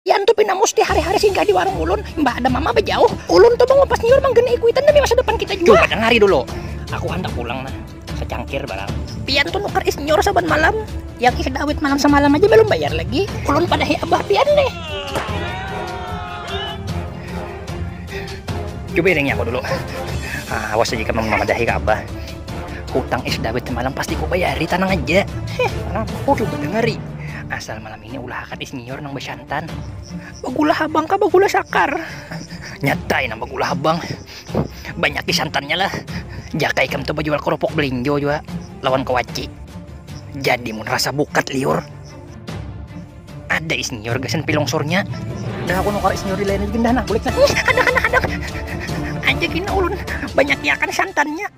Iyan tu pina musti hari-hari singgah di warung ulun, imbah ada mama bejauh. Ulun tu mangupas nyiur manggena ikuitan demi masa depan kita jua. Cuba dangari dulu, aku handak pulang nah, secangkir barang. Pian tu nukar is nyiur saban malam, yang is dawit malam samalam aja balum bayar lagi. Ulun padahi abah pian nih. Cuba iringi aku dulu. Ah, awas jika mamadahi ka abah. Hutang is dawit semalam pasti ku bayari, tanang aja. Heh, aku cuba dangari. Asal malam Ini ulahakan isnior nang basantan. Bagula habang kah bagula sakar? Nyatai nang bagula habang. Banyak santannya lah. Jakai kam tu bajual kerupuk belinjo juga lawan kewaci. Jadi mun rasa bukat liur. Ada isnior gasan pilong surnya. Dah aku nukar isnior di lain lagi dah nak bulik nah. Ih, ada ada ada. Aja gini ulun banyak santannya.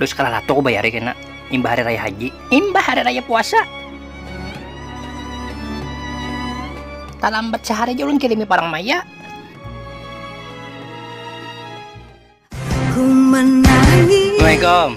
Dus kalah latu ku bayari kena imbah hari raya haji. Imbah hari raya puasa. Talambat sahari ja ulun kirimi parang maya. Assalamualaikum.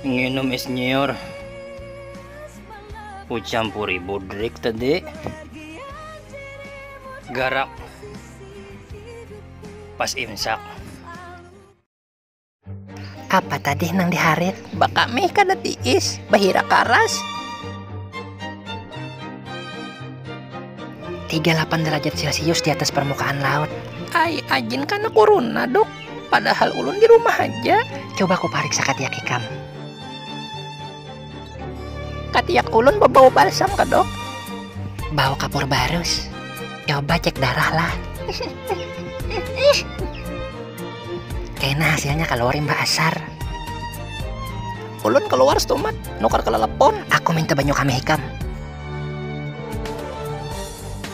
nginum es nyiur ku campuri budrik tadi garak pas imsak apa tadi nang diharit baka mih kada tiis bahira karas 38 derajat celcius di atas permukaan laut ai ajin kana kuruna duk Padahal ulun di rumah haja. Coba ku pariksa katiak ikam. Katiak ulun bebau balsam kah dok? Bau kapur barus. Coba cek darah lah. Kena hasilnya kaluar imbah asar. Ulun kaluar stumat, nukar kelelepon. Aku minta banyu kami ikam.